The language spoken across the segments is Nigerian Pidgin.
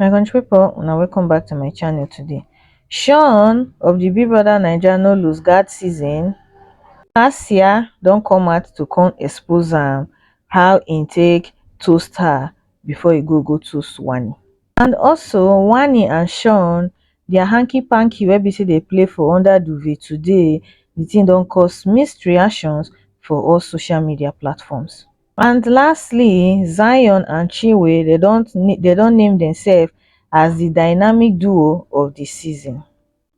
my country people una welcome back to my channel today sean of the big brother naija no lose guard season last year don come out to come expose am how he take toast her before he go go toast wani and also wanni and shaun dia hanky panky wey be say dey play for under duvet today di tin don cause mixed reactions for all social media platforms and lastly zion and chinwe dem don dem don name demsef as di dynamic duo of di season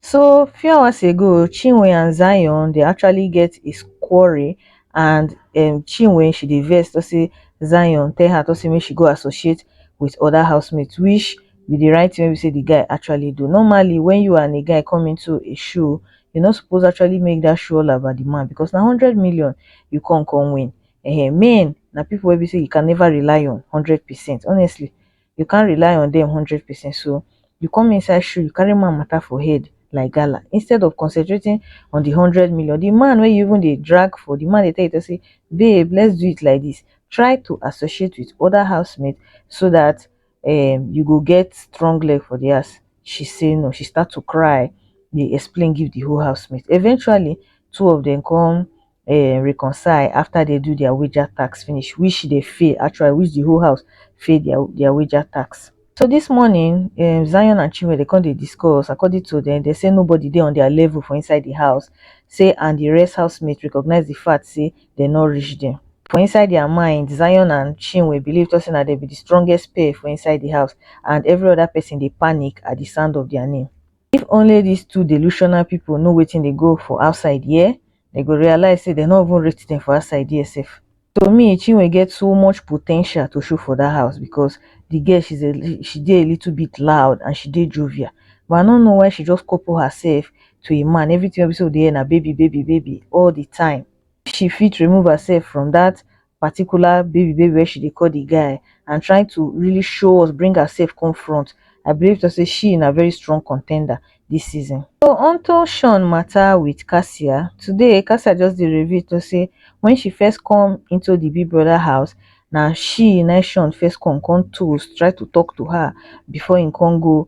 So few hours ago, Chinwe and Zion dey actually get a quarrel and um, Chinwe she dey vex to say Zion tell her to say make she go associate with other housemates, which be the right thing we say the guy actually do. Normally, when you and a guy come into a show, you're not supposed to actually make that show all about the man because now 100 million you can't come win. Uh, men, now people will be say you can never rely on 100%. Honestly, you can't rely on them hundred percent so you come inside shoe you carry man matter for head like gala instead of concentrating on the hundred million the man wey you even dey drag for the man dey tell you to say babe let's do it like this try to associate with other housemates so that um you go get strong leg for the house she say no she start to cry dey explain give the whole housemate eventually two of them come um reconcile after dem do their wager task finish which dey fail actually which the whole house fail their their wager task. So this morning um Zion and Chinwe dey come dey discuss according to them they say nobody dey on their level for inside the house say and the rest housemate recognize the fact say they no reach them. For inside their mind Zion and Chinwe believe talk say na them be the strongest pair for inside the house and every other person dey panic at the sound of their name. If only these two delusional people know wetin dey go for outside here. dem go realize say dem no even rate dem for outside there sef. To me Chinwe get so much po ten tial to show for that house because the girl she's a li- she dey a little bit loud and she dey jovial but I no know why she just couple herself to a man everything wey be say we dey hear na baby baby baby all the time. She fit remove herself from that particular baby baby wey she dey call the guy and trying to really show us, bring herself come front. I believe to say she na very strong contender this season. So onto Shawn matter with Cassia, today Cassia just dey reveal to say when she first come into the Big Brother house, na she na Shawn first come come toast, try to talk to her before he come go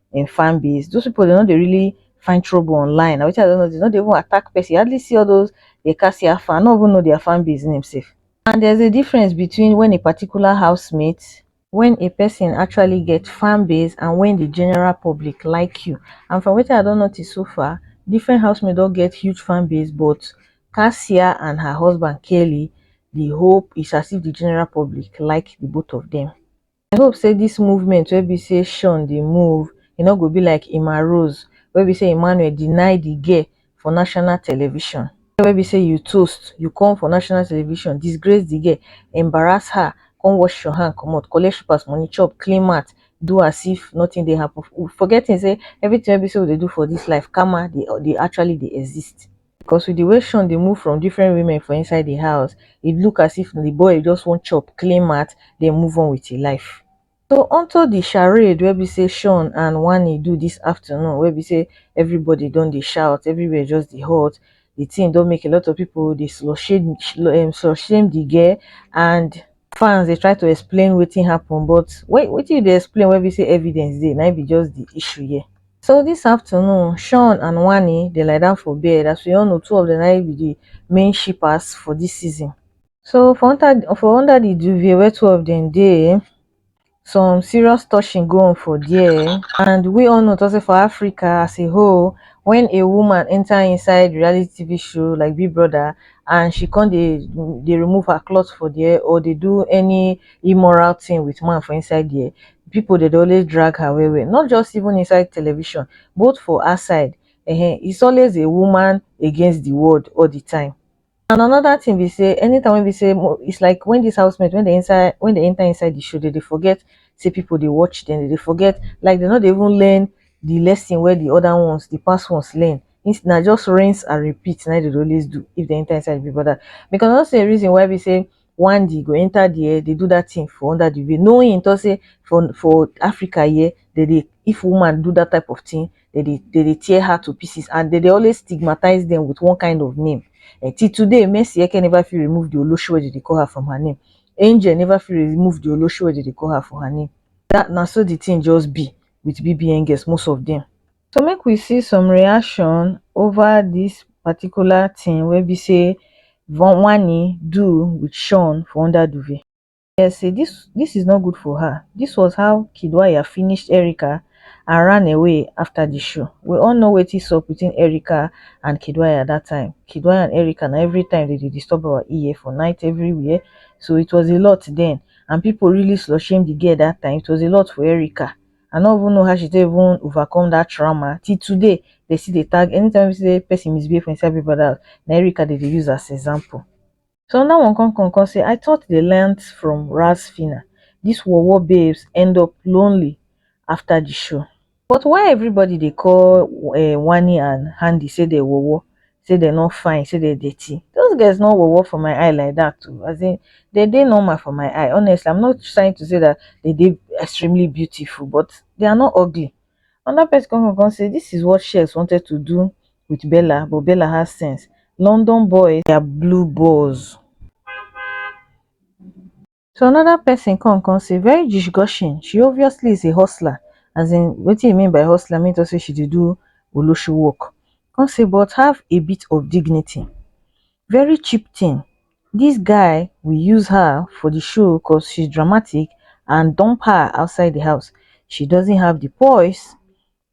im fan base those people dem no dey really find trouble online na wetin I don notice dem no dey even attack person you hardly see all those dey cast your fan I no even know their fan base name sef and there's a difference between when a particular housemate when a person actually get fan base and when the general public like you and from wetin I don notice so far different housemate don get huge fan base but Kasia and her husband Kelly the whole is as if the general public like the both of them. I hope say this movement wey be say Sean dey move e no go be like Emma Rose wey be say Emmanuel deny the girl for national television you wey be say you toast you come for national television disgrace the girl embarrass her come wash your hand comot collect slippers money chop clean mouth do as if nothing dey happen forgetting say everything wey be say we dey do for this life karma dey actually dey exist. Because with the way Sean dey move from different women for inside the house, it look as if the boy just wan chop, clean mouth, then move on with his life. So onto the charade wey be say Sean and Wanni do this afternoon wey be say everybody don dey shout, everywhere just dey hot. The thing don make a lot of people dey slut shame, um, slut shame the girl and fans dey try to explain wetin happen but wait wetin you dey explain wey be say evidence dey na im be just the issue here. So this afternoon Sean and Wanni dey lie down for bed as we all know two of them na im be the main shippers for this season. So for under for under the duvet wey two of them dey, some serious touching go on for dia and we all know sey for Africa as a whole wen a woman enter inside reality TV show like big brother and she come dey dey remove her cloth for dia or dey do any immoral thing with man for inside dia people dey dey always drag her well well not just even inside television both for outside um it's always a woman against the world all the time. And another thing be say anytime when be say it's like when this housemate when they inside when they enter inside the show they, they forget say people they watch them they forget like they not even learn the lesson where the other ones the past ones learn it's not just rinse and repeat now they always do if they enter inside the brother because that's the reason why we say one day e go enter there dey do that thing for under the veil knowing him talk say for for Africa here they dey if woman do that type of thing they dey they dey tear her to pieces and they dey always stigmatize them with one kind of name eh, till today Mercy Eke never fit remove the Olosho wey they dey call her from her name Angel never fit remove the Olosho wey they dey call her from her name that na so the thing just be with BBN girls most of them. So make we see some reaction over this particular thing wey be say Vonwani do with Sean for under duvet. Yes, say this this is not good for her. This was how Kidwaya finished Erica and ran away after the show. We all know wetin sup between Erica and Kidwaya at that time. Kidwaya and Erica na every time they dey disturb our ear for night everywhere. So it was a lot then and people really slut shame the girl that time. It was a lot for Erica. I no even know how she take even overcome that trauma till today dem still dey tag anytime wey be say person misbehave for inside Big Brother house na Erica dem dey use as example so another one come come come say I thought they learnt from Ras Phyna this war war babes end up lonely after the show but why everybody dey call um Wanni and Handi say dem war war say dem no fine say dem dirty those girls no worwor for my eye like that o as in dem dey normal for my eye honestly am not trying to say that dem dey extremely beautiful but they are not ugly another person come come say this is what Shez wanted to do with Bella but Bella has sense London boys they are blue balls. so another person come come say very disgusting she obviously is a hustler as in wetin e mean by hustler mean to say she dey do olosho work come say but have a bit of dignity very cheap thing this guy will use her for the show cos she's dramatic and dump her outside the house she doesn't have the poise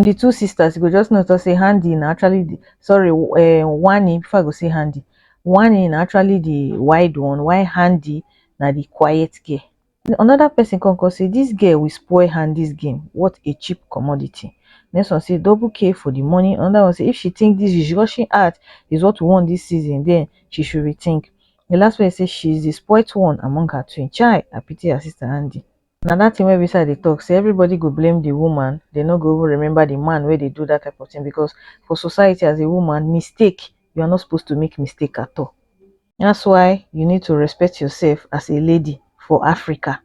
from the two sisters you go just know say Handi na actually the sorry uh, Wani before I go say Handi Wani na actually the wide one why Handi na the quiet girl another person come come say this girl will spoil Handi's game what a cheap commodity next one say double K for the money another one say if she think this is rushing out is what we want this season then she should rethink the last one say she is the spoilt one among her twin child I pity her sister Handi na that thing wey be say i dey talk say everybody go blame the woman dey no go even remember the man wey dey do that type of thing because for society as a woman mistake you are not supposed to make mistake at all that's why you need to respect yourself as a lady for africa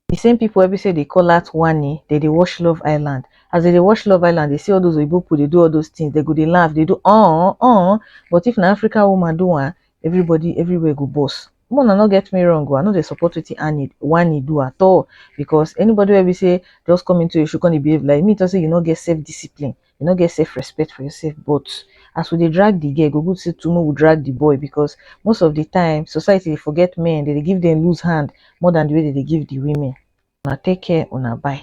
the same people wey be say dey call out wani dey dey watch love island as they dey watch love island they see all those oyibo people dey do all those things they go dey laugh dey do uh uh but if na african woman do am everybody everywhere go burst make una no get me wrong o i no dey support wetin annie wanni do at all because anybody wey be say just come into a show come dey behave like me talk say you no get self discipline you no get self respect for yourself but as we dey drag the girl e go good say too make we drag the boy because most of the time society dey forget men they dey give them loose hand more than the way they dey give the women una take care una bye.